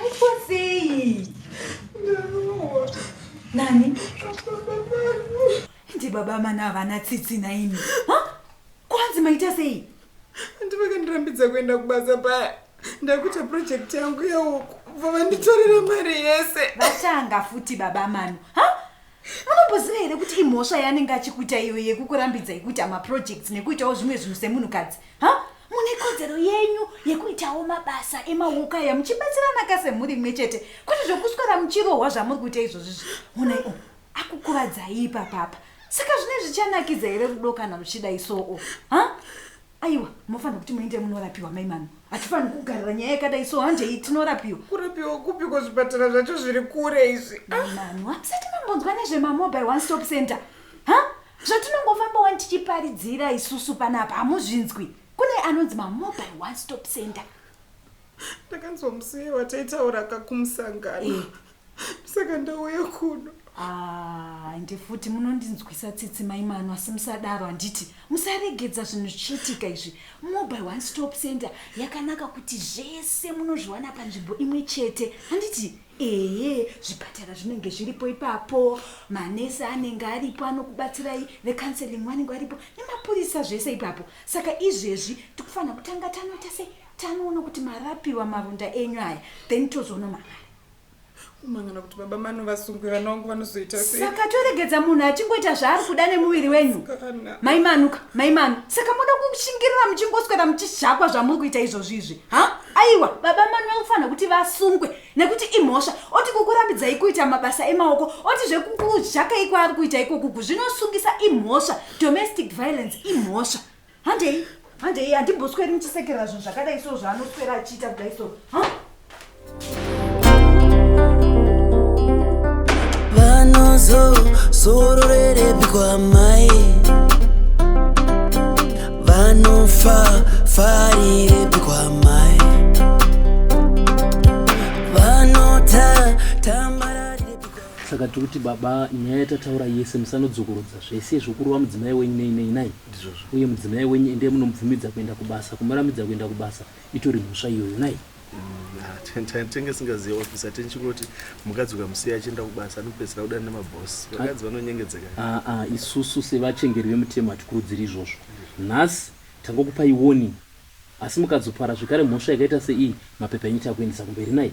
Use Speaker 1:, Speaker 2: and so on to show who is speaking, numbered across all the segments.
Speaker 1: Aitwa sei? Ndarohwa. Nani? Ndi baba mana havana tsitsi naimi. Ha? Kwanzi maita sei? Ndivakandirambidza kuenda kubasa paya. Ndakuita project yangu yeuku. Bva vanditorera mari yese. Vatanga futi baba mano. Ha? anomboziva here kuti imhosva yaanenge achikuita iyo yekukurambidzai kuita maprojects nekuitawo zvimwe zvinhu semunhukadzi ha mune kodzero yenyu yekuitawo mabasa emawoko aya muchibatsirana ka semhuri imwe chete kwete zvekuswera muchirohwa zvamuri kuita izvozvi zvi honai o akukuvadzai ipapapa saka zvine zvichanakidza here rudo kana ruchidai soo ha aiwa mofanira kuti muende munorapiwa mai mano hatifaniri kugarira nyaya yakadai so handei tinorapiwa kurapiwa kupi kwazvipatara zvacho zviri kure izvi ah! mano hamusati mambonzwa nezvemamobile one stop center ha zvatinongofamba wani tichiparidzira isusu panapa hamuzvinzwi kune anonzi mamobile one stop center ndakanzwa musiye wataitaura ka kumusangano eh. saka ndauya kuno ah, ende futi munondinzwisa tsitsi mai mano asi musadaro handiti musaregedza zvinhu zvichiitika izvi mobile one stop center yakanaka kuti zvese munozviwana panzvimbo imwe chete handiti ehe zvipatara zvinenge zviripo ipapo manesi anenge aripo anokubatsirai vecounseling vanenge varipo nemapurisa zvese ipapo saka izvezvi tikufanira kutanga tanoita sei tanoona kuti marapiwa maronda enyu aya then tozoona mangari kumangana kuti baba mano vasungwe vana vangu vanozoita sei saka toregedza munhu achingoita zvaari kuda nemuviri wenyu Kana. mai manuka mai manu saka moda kushingirira muchingoswera muchishakwa zvamuri kuita izvozvi izvi ha aiwa baba manu vakufanira kuti vasungwe nekuti imhosva oti kukurambidzai kuita mabasa emaoko oti zvekukuzhakai kwaari kuita ikokuku zvinosungisa imhosva domestic violence imhosva handei handei handimbosweri muchisekerera zvinhu zvakadai so zvaanoswera achiita kudai so vanozozororerebikwa mai vanofa farirebikwa mai vanota tambararirebikwa saka tiri kuti baba nyaya yatataura yese musanodzokorodza zvese zvokurova mudzimai wenyu nei nei nai Ndizvozvo. Uye mudzimai wenyu ende munomubvumidza kuenda kubasa kumurambidza kuenda kubasa itori mhosva iyoyo nai. Tenge singaziye officer tenchingoti mukadzi ukamusiya achienda kubasa anopedzisira kudana nemaboss vakadzi vanonyengedzeka. Ah ah isusu sevachengeri vemutemo hatikurudziri izvozvo. Nhasi tangokupai warning asi mukadzopara zvekare mhosva yakaita seiyi mapepa enyu takuendesa kumberi nai.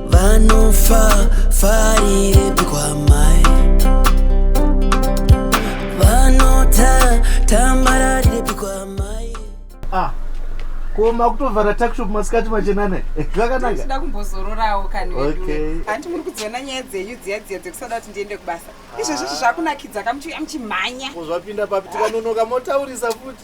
Speaker 1: vanofa farirepi kwamai vanota tambararirepi kwamai ah ko makutovhara takshop masikati machenana eh, zvakanaka ndida kumbozororawo kani vedu hanti muri kudziona nyaya dzenyu dziya dziya dzekusada kuti ndiende kubasa izvezvo zvakunakidza kamuchiuya muchimhanya zvapinda papi tikanonoka motaurisa futi